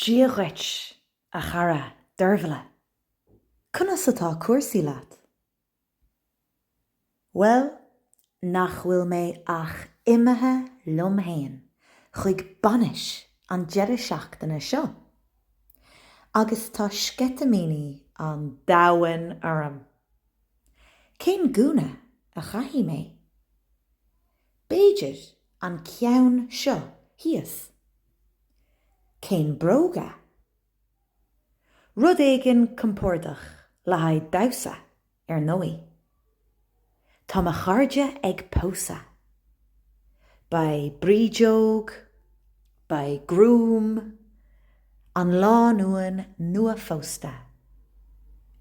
Dia dhuit, a chara, Derbhla. Conas atá cúrsaí leat? Bhuel, nach bhfuil mé ach imithe liom fhéin chuig bainis an deireadh seachtaine seo, agus tá sceitimíní an domhain orm. Cén gúna a chaithfidh mé? B'fhéidir an ceann seo thíos. Cén bróga? Rud éigin compordach le haghaidh damhsa, ar ndóigh. Tá mo chairde ag pósadh. Beidh brídeog, Beidh grúm, an lánúin nuaphósta.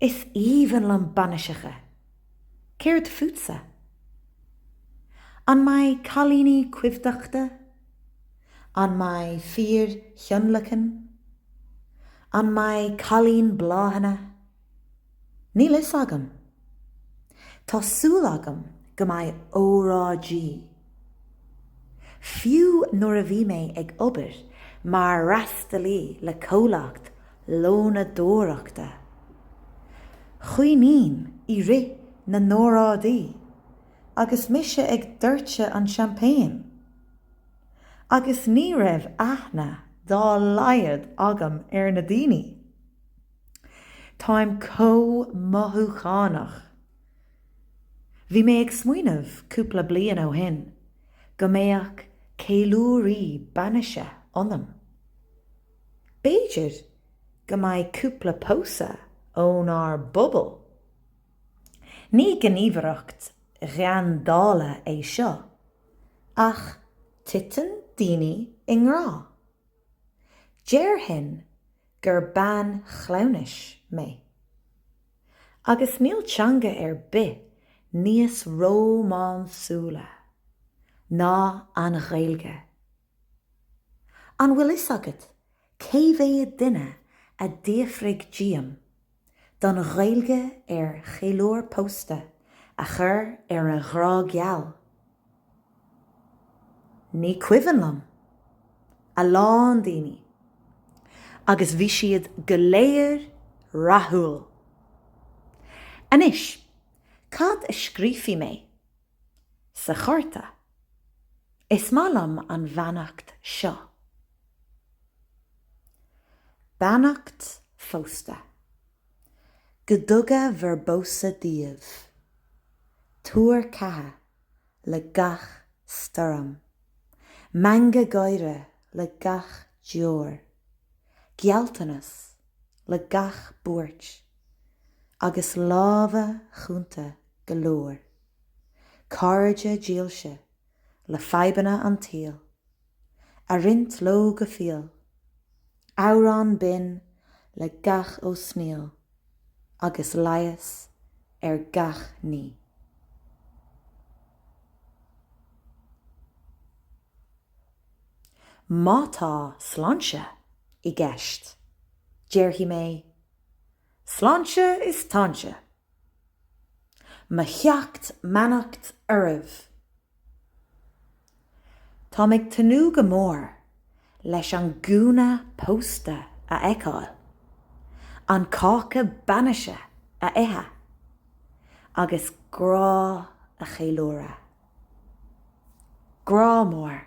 Is aoibhinn liom bainiseacha. Céard fútsa? An mbeidh cailíní coimhdeachta? An mbeidh fir thionlacain? An mbeidh cailín bláthanna? Níl fhios agam. Tá súil agam go mbeidh óráidí. Fiú nuair a bhí mé ag obair mar fhreastalaí le comhlacht lónadóireachta, chaoininn i rith na n-óráidí agus mise ag doirteadh an seaimpéin, agus ní raibh aithne dá laghad agam ar na daoine. Táim comh mothúchánach. Bhí mé ag smaoineamh cúpla bliain ó shin go mbeadh ceiliúraí bainise ionam. B'fhéidir go mbeidh cúpla pósadh ónár bpobal. Ní gníomhaireacht gheandála é seo, ach titeann daoine i ngrá. Deirim gur bean chleamhnais mé. Agus níl teanga ar bith níos rómánsúla ná an Ghaeilge. An bhfuil fhios agat cé mhéad duine a d'fhiafraigh díom faoin Ghaeilge ar cheiliúr pósta a chur ar a ghrá geal? Ní cuimhin liom. A lán daoine. Agus bhí siad go léir rathúil! Anois, cad a scríofaidh mé? sa chárta. Is maith liom an bheannacht seo. Beannacht pósta. Go dtuga bhur bpósadh daoibh. Tuar ceatha le gach stoirm. Meangadh gáire le gach deoir. Gealltanas le gach buairt. Agus lámha cúnta go leor. Cairde dílse le fadhbanna an tsaoil a roinnt leo go fial. Amhrán binn le gach osnaíl agus leigheas ar gach ní. Má tá sláinte i gceist, déarfaidh mé, Sláinte is táinte! Mo sheacht mbeannacht oraibh. Táim ag tnúth go mór leis an gúna pósta a fheiceáil, an cáca bainise a ithe agus grá a cheiliúradh. Grá mór.